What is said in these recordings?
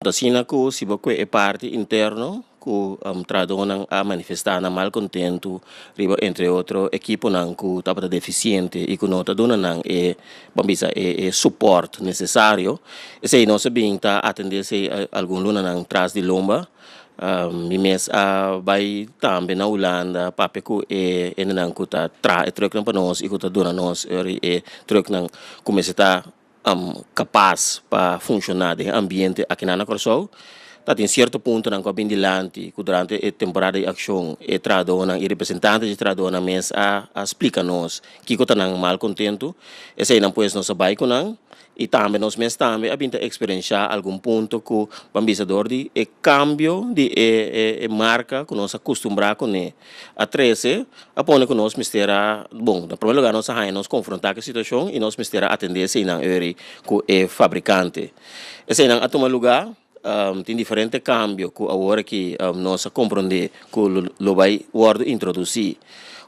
Asina ku si bo kue e parti interno ku trahadonan a manifestá nan mal kontentu riba entre otro ekiponan ku tabata defisiente i ku no ta duna nan e bo a bisa e suport nesesario esei nos a bin ta atendé esei algun lunanan tras di lomba. Mi mes a bai tambe na Hulanda papia ku e hendenan ku ta traha e trùknan pa nos i ku ta duna nos e trùknan kumesa ta. kapas pa funshoná den e ambiente aki nan na Kòrsou. Ta tin sierto puntonan ku a bin dilanti ku durante e temporada di akshon e trahadónan i representante di trahadónan mes a a splika nos kiko ta nan mal kontentu. Eseinan pues nos a bai ku nan i tambe nos mes tambe a bin ta eksperenshá algun punto ku ban bisa dor di e kambio di e e marka ku nos a kustumbrá kuné. A trese a pone ku nos mester a, bon, na promé lugá nos a haña nos konfrontá ku e situashon i nos mester a atendé eseinan eri ku e fabrikante. Eseinan a tuma lugá, tin diferente kambio ku awor aki nos a komprondé ku lo bai wòrdu introdusí.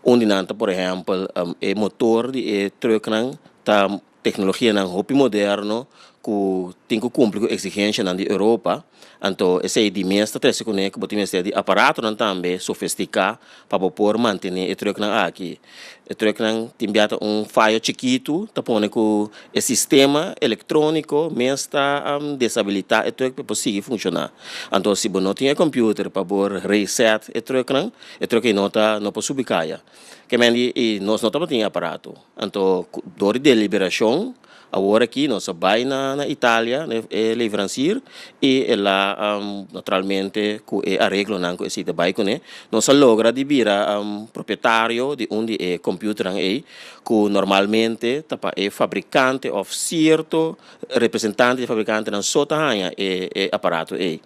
Un di nan ta por ehèmpel, e motor di e trùknan ta tecnologianan hopi moderno cu tin cu cumpli cu exigencianan di Europa, anto esey di mes ta trece cune cu bo tin mester di aparatonan tambe sofestica pa bo por mantene e trucknan aki. E trucknan tin bia ta un fayo chikitu ta pone cu e sistema electronico mes ta deshabilita e truck pa e por sigui funciona. Anto si bo no tin e computer pa por reset e trucknan, e truck ey no ta, no por subi caya. Kemendi y nos no tabatin e aparato. Anto cu dor di deliberacion awor aki nos a bay na na Italia na e leverancier y e la naturalmente cu e areglonan cu esey ta bay cune nos a logra di bira propietario di un di e computernan ey cu normalmente ta pa e fabricante of cierto representante di fabricantenan so ta haya e e aparato ey.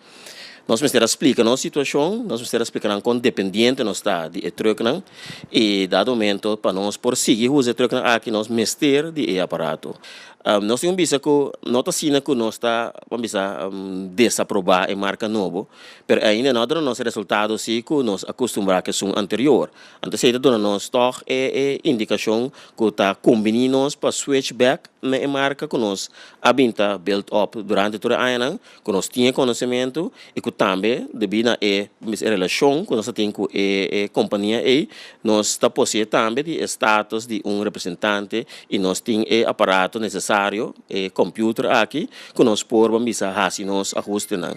Nos mester a splika nos situashon, nos mester a splika nan kon dependiente nos ta di e trùknan i dado momento pa nos por sigui usa e trùknan aki nos mester di e aparato. Nos tin un bisa ku no ta asina ku nos ta wak bisa desaprobá e marka nobo pero e ainda no a duna nos e resultado si ku nos akustumbrá ku esun anterior. Anto esei ta duna nos tòg e e indikashon ku ta kombiní nos pa switch bèk na e marka ku nos a bin ta build up durante tur e añanan. ku nos tin e konosementu i ku tambe debí na e mes e relashon ku nos ta tin ku e e kompania ei nos ta poseé tambe di e status di un representante i nos tin e aparato nesesario e kòmpiuter aki ku nos por ban bisa hasi nos ahustenan.